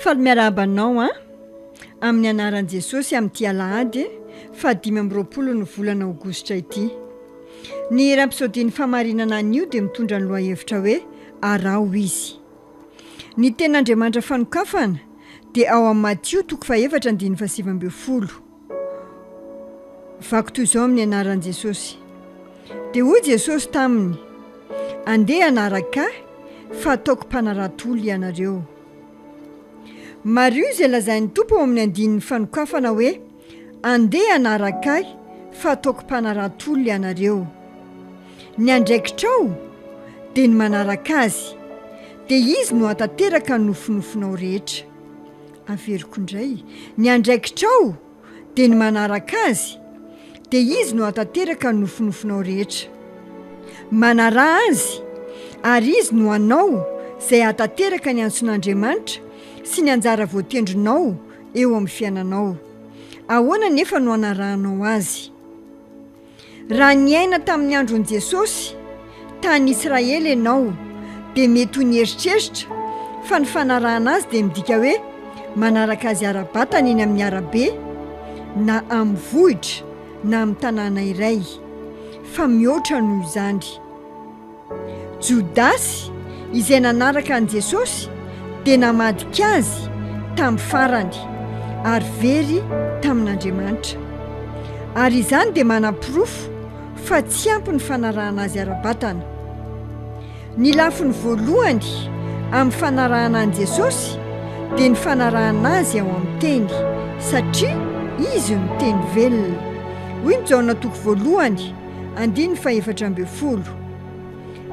Faly miarahaba anao an! Amin'ny anaran'i Jesosy amin'ity alahady faha dimy amby roapolo ny volana aogositra ity. Ny rampisodian'ny fahamarinana anio dia mitondra ny lohahevitra hoe araho izy. Ny tenin'Andriamanitra fanokafana dia ao amin'ny Matio toko faha efatra andininy faha sivy ambin'ny folo. Vako toy izao amin'ny anaran'i Jesosy. Dia hoy Jesosy taminy, Andeha hanaraka Ahy, fa ataoko mpanarato olona ianareo. Mariho izay lazain'ny Tompo ao amin'ny andininy fanokafana hoe, Andeha hanaraka Ahy, fa ataoko mpanarato olona ianareo. Ny andraikitrao dia ny manaraka Azy, dia Izy no hahatanteraka ny nofinofinao rehetra. Averiko indray, ny andraikitrao dia ny manaraka Azy, dia Izy no hahatanteraka ny nofinofinao rehetra. Manarà Azy, ary Izy no hanao izay hahatanteraka ny antson'Andriamanitra sy ny anjara voatendrinao eo amin'ny fiainanao. Ahoana anefa no anarahanao Azy? Raha niaina tamin'ny andron'i Jesosy tany Israely ianao, dia mety ho nieritreritra fa ny fanarahana azy dia midika hoe manaraka azy ara-batana eny amin'ny arabe, na amin'ny vohitra, na amin'ny tanàna iray. Fa mihoatra noho izany. Jodasy, izay nanaraka an'i Jesosy, dia namadika Azy tamin'ny farany ary very tamin'Andriamanitra. Ary izany dia manaporofo fa tsy ampy ny fanarahana Azy ara-batana. Ny lafiny voalohany amin'ny fanarahana an'i Jesosy dia ny fanarahana Azy ao amin'ny Teny, satria Izy no Teny velona. Hoy ny Jaona toko voalohany. Andininy fahefatra ambin'ny folo.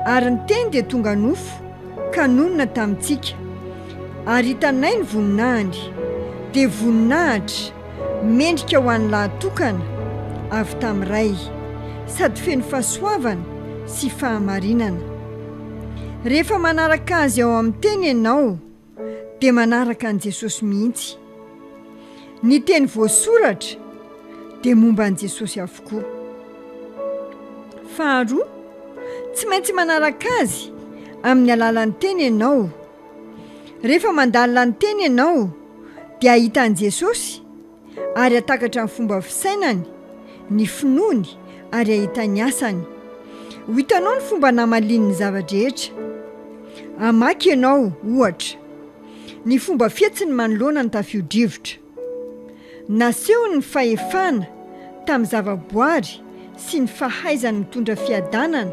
Ary ny Teny dia tonga nofo, ka nonina tamintsika, ary hitanay ny voninahiny, dia voninahitra mendrika ho an'ny lahy tokana avy tamin'ny Ray, sady feno fahasoavana sy fahamarinana. Rehefa manaraka Azy ao amin'ny Teny ianao, dia manaraka an'i Jesosy mihitsy. Ny teny voasoratra dia momba an'i Jesosy avokoa. Faharoa, tsy maintsy manaraka Azy amin'ny alalan'ny teny ianao. Rehefa mandalina ny teny ianao dia ahita an'i Jesosy. ary hatakatra ny fomba fisainany, ny finoany ary hahita ny asany. Ho hitanao ny fomba namaliany ny zava-drehetra. Hamaky ianao, ohatra, ny fomba fihetsiny manoloana ny tafio-drivotra. Nasehony ny fahefana tamin'ny zavaboary sy ny fahaizany mitondra fiadanana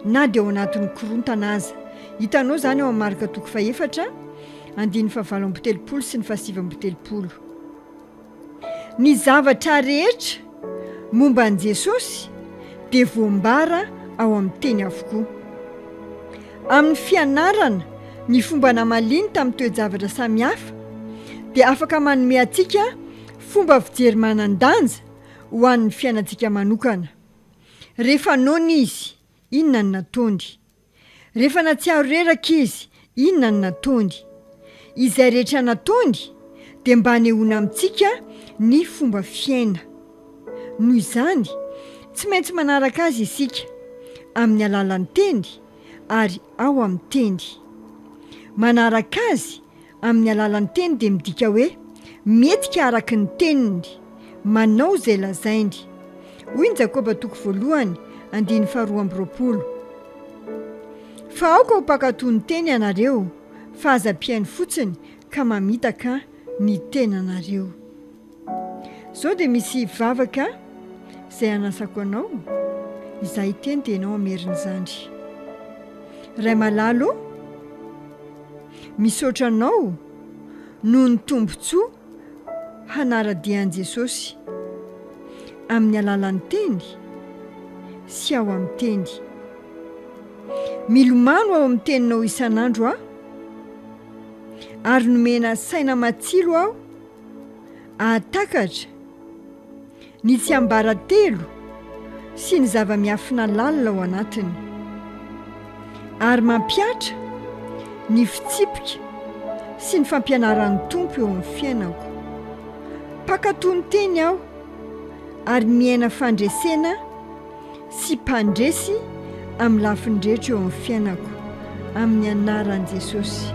na dia ao anatin'ny korontana aza. Hitanao izany ao amin'ny Marka toko fahefatra, andininy fahavalo amby telopolo sy ny fahasivy amby telopolo. Ny zavatra rehetra momba an'i Jesosy dia voambara ao amin'ny Teny avokoa. Amin'ny fianarana ny fomba namaliany tamin'ny toe-javatra samihafa, dia afaka manome antsika fomba fijery manan-danja ho an'ny fiainantsika manokana. Rehefa noana izy, inona no nataony? Rehefa natsiaro reraka izy, inona no nataony? Izay rehetra nataony dia mba hanehoana amintsika ny fomba fiaina. Noho izany, tsy maintsy manaraka azy isika, amin'ny alalan'ny teny ary ao amin'ny teny. Manaraka azy Amin'ny alalan'ny teny dia midika hoe mihetsika araka ny teniny, manao izay lazainy. Hoy ny Jakoba toko voalohany andininy faharoa amby roapolo, Fa aoka ho mpankatò ny teny ianareo, fa aza ampihaino fotsiny ka mamitaka ny tenanareo. Izao dia misy vavaka izay anasako anao, izaho hiteny dia ianao hamery ny zandry. Ray malala ô, misaotra anao noho ny tombontsoa hanara-dia an'i Jesosy amin'ny alalan'ny teny sy ao amin'ny teny. Milomano ao amin'ny teninao isan'andro aho ary nomena saina matsilo aho. Hahatakatra ny tsiambaratelo sy ny zava-miafina lalina ao anatiny, ary mampihatra ny fitsipika sy ny fampianaran'ny Tompo eo amin'ny fiainako. Mpankatò ny Teny aho, ary miaina fandresena sy mpandresy amin'ny lafiny rehetra eo amin'ny fiainako, amin'ny anaran'i Jesosy.